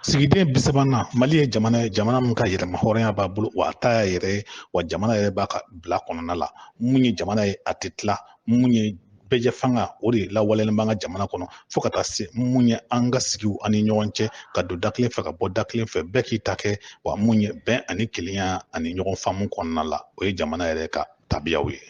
sigiden bi sabanan mali ye jamana ye jamana min ka yɛrɛmahɔrɔnya b'a bolo wa a ta y'a yɛrɛ ye wa jamana yɛrɛ b'a ka bila kɔnɔna la mun ye jamana ye a tɛ tila mun ye bɛɛjɛfanga o de lawaleyalen b'an ka jamana kɔnɔ fo ka taa se mun ye an ka sigiw ani ɲɔgɔn cɛ ka don da kelen fɛ ka bɔ da kelen fɛ bɛɛ k'i ta kɛ wa mun ye bɛn ani kelenya ani ɲɔgɔn faamu kɔnɔna la o ye jamana yɛrɛ ka tabiyaw ye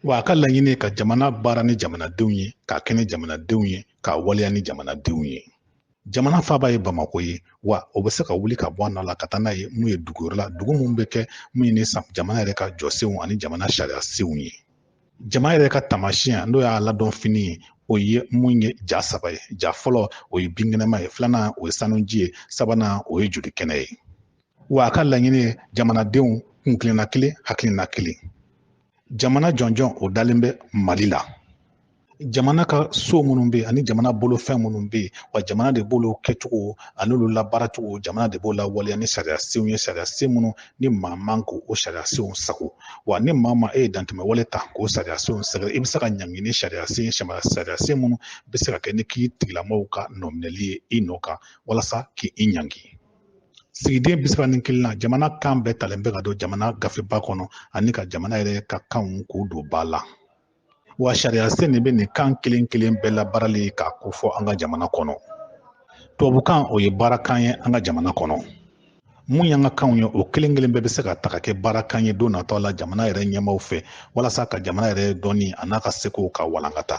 wa a ka laɲini ka jamana baara ni jamanadenw ye k'a kɛ ni jamanadenw ye k'a waleya ni jamanadenw ye jamana faaba ye bamako ye wa o bɛ se ka wuli ka bɔ a nɔ la ka taa n'a ye mun ye dugu wɛrɛ la dugu mun bɛ kɛ mun ye ni jamana yɛrɛ ka jɔsenw ani jamana sariya senw ye jamana yɛrɛ ka taamasiyɛn n'o y'a ladɔn fini ye o ye mun ye ja saba ye ja fɔlɔ o ye binkɛnɛma ye filanan o ye sanuji ye sabanan o ye joli kɛnɛ ye wa a ka laɲini ye jamanadenw kuntilenna kelen hakilina kelen jamana jɔnjɔn o dalen bɛ mali la jamana ka so minnu bɛ yen ani jamana bolofɛn minnu bɛ yen wa jamana de b'olu kɛcogo ani olu labaaracogo jamana de b'o lawaleya ni sariya senw ye sariya sen minnu ni maa man k'o o sariya senw sago wa ni maa ma e ye dantɛmɛ wale ta k'o sariya senw sɛgɛrɛ i bɛ se ka ɲangi ni sari sariya sen minnu bɛ se ka kɛ ni k'i tigilamaaw ka nɔminɛli ye i nɔ kan walasa k'i ɲangi sigiden bi saba ni kelennan jamana kan bɛɛ talen bɛ ka don jamana gafeba kɔnɔ ani ka jamana yɛrɛ ka kanw k'u don ba la wa sariya sen de bɛ nin kan kelen kelen bɛɛ labaarali k'a kofɔ an ka jamana kɔnɔ tubabukan o ye baarakan ye an ka jamana kɔnɔ mun y'an ka kanw ye o kelen kelen bɛɛ bɛ se ka ta ka kɛ baarakan ye don natɔ la jamana yɛrɛ ɲɛmaaw fɛ walasa ka jamana yɛrɛ dɔnni an'a ka sekow ka walankata